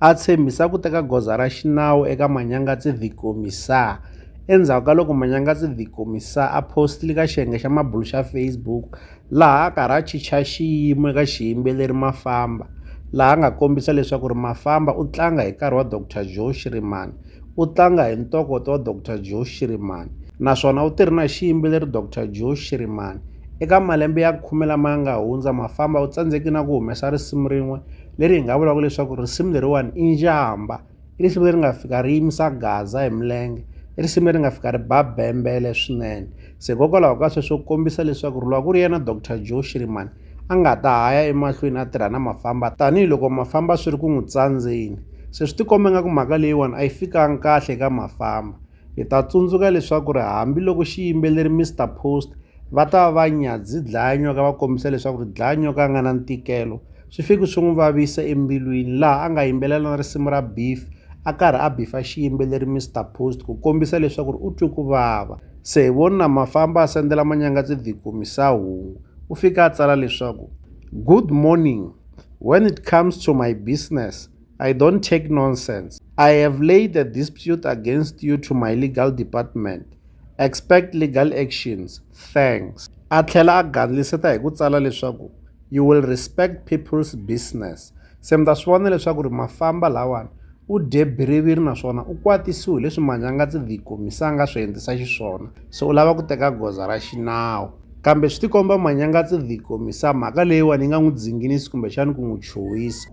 a tshembisa ku teka goza ra xinawu eka Manyangatse Vikomiesa endzhaku ka loko Manyangatse Vikomiesa a postile ka xiyenge xa mabulu xa Facebook laha a karhi a chicha xiyimo eka xiyimbeleri Mafamba laha a nga kombisa leswaku ri Mafamba u tlanga hi nkarhi wa Dr Joe Shirimani u tlanga hi ntokoto wa Dr Joe Shirimani naswona u tirhi na xiyimbeleri Dr Joe Shirimani eka malembe ya khume lama ya nga hundza Mafamba u tsandzeki na ku humesa risimu rin'we leri hi nga vulaka leswaku risimu leriwani i njhamba i risimu leri nga fika ri yimisa gaza hi milenge i risimu leri nga fika ri ba bembele swinene se hikokwalaho ka sweswo ku kombisa leswaku ri loko ku ri yena dr joe shirimani a nga ta ha ya emahlweni a tirha na mafamba tanihiloko mafamba swi ri ku n'wi tsandzeni se swi tikomba nga ku mhaka leyiwani a yi fikanga kahle eka mafamba Hi ta tsundzuka leswaku ri hambi loko xiyimbeleri Mister Post va ta va va nyadzi dlaya nyoka va kombisa leswaku ri dlaya nyoka a nga na ntikelo swi fiki swi n'wi vavisa embilwini laha a nga yimbelela na risimu ra beef a karhi a bifa xiyimbeleri Mister Post ku kombisa leswaku ri u twe ku vava se hi voni na mafamba a sendela manyanga tidhikumisaa hungu u fika a tsala leswaku good morning when it comes to my business I don't take nonsense. I have laid a dispute against you to my legal department. Expect legal actions. Thanks. A tlhela a gandliseta hi ku tsala leswaku you will respect people's business. Se mi ta swi vona leswaku ri mafamba lawani u dye biriviri naswona u kwatisiwe leswi manyangatsi the komisa a nga swi endlisa xiswona se u lava ku teka goza ra xinawu kambe swi tikomba manyangatsi the komisa mhaka leyiwani yi nga n'wi dzinginisi kumbexani ku n'wi chuhisa